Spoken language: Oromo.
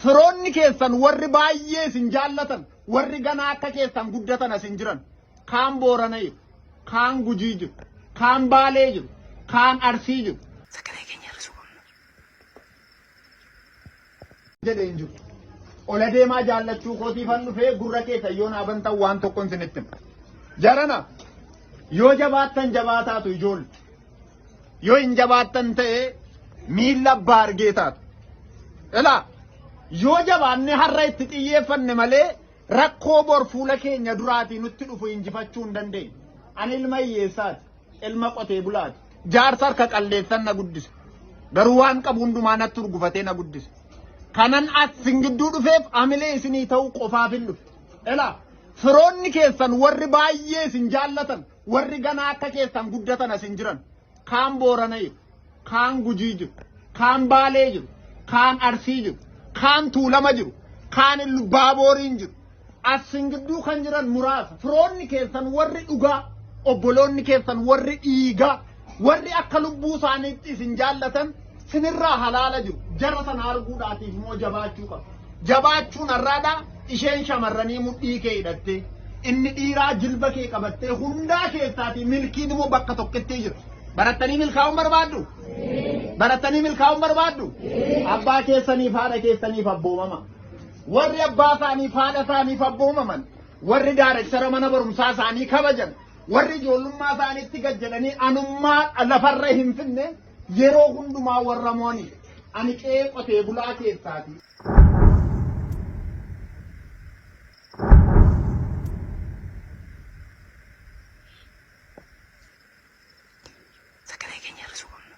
Firoonni keessan warri baay'ee isin jaallatan, warri ganaa akka keessan guddatan asin jiran, kaan Boorana jiru, kaan Gujii jiru, kaan Baalee jiru, kaan Arsii jiru. Sagalee keenya hir'isuu qabna. jedhe hin jiru. Ol adeemaa jaallachuu kootiifan dhufee gurra keessan yoo naa bantan waan tokkon isinitti hima. Jarana yoo jabaattan jabaataatu ijoolle. Yoo hin jabaattan ta'e miilla abbaa argee taatu. Ilaa yoo jabaanne har'a itti xiyyeeffanne malee rakkoo bor fuula keenya duraatii nutti dhufu injifachuu hin dandeenye. Ani ilma hiyyeessaati. Ilma qotee bulaati. Jaarsa harka qalleessan na guddise. Garuu waan qabu hundumaa natti urgufatee na guddise. Kanan as sin gidduu dhufeef amilee isinii ta'uu qofaaf hin dhufe. Elaa firoonni keessan warri baay'ee isin jaallatan warri ganaa akka keessan guddatan as hin jiran. Kaan boorana jiru. kaan Gujii jiru, kaan Baalee jiru, kaan Arsii jiru, kaan Tuulama jiru, kaan Illubaabooriin jiru. Asin gidduu kan jiran muraasa. Firoonni keessan warri dhugaa, obboloonni keessan warri dhiigaa, warri akka lubbuu isaaniitti isin jaallatan sinirraa halaala jiru. Jara sana arguudhaatiif immoo jabaachuu qabu. Jabaachuun har'aadha isheen shamarranii mudhii kee hidhattee. Inni dhiiraa jilba kee qabattee hundaa keessaatii milkiin immoo bakka tokkotti jira. Barattanii milkaa'uun barbaaddu? Barattanii milkaa'uun barbaaddu? Abbaa keessaniif haadha keessaniif abboomama. Warri abbaa isaaniif haadha isaaniif abboomaman, warri daarektara mana barumsaa isaanii kabajan, warri ijoollummaa isaaniitti gad jedhanii anummaa lafarra hin finne yeroo hundumaa warra mo'aniif. Ani qe'ee qotee bulaa keessaati. Sagalee keenya hir'isuu qabna.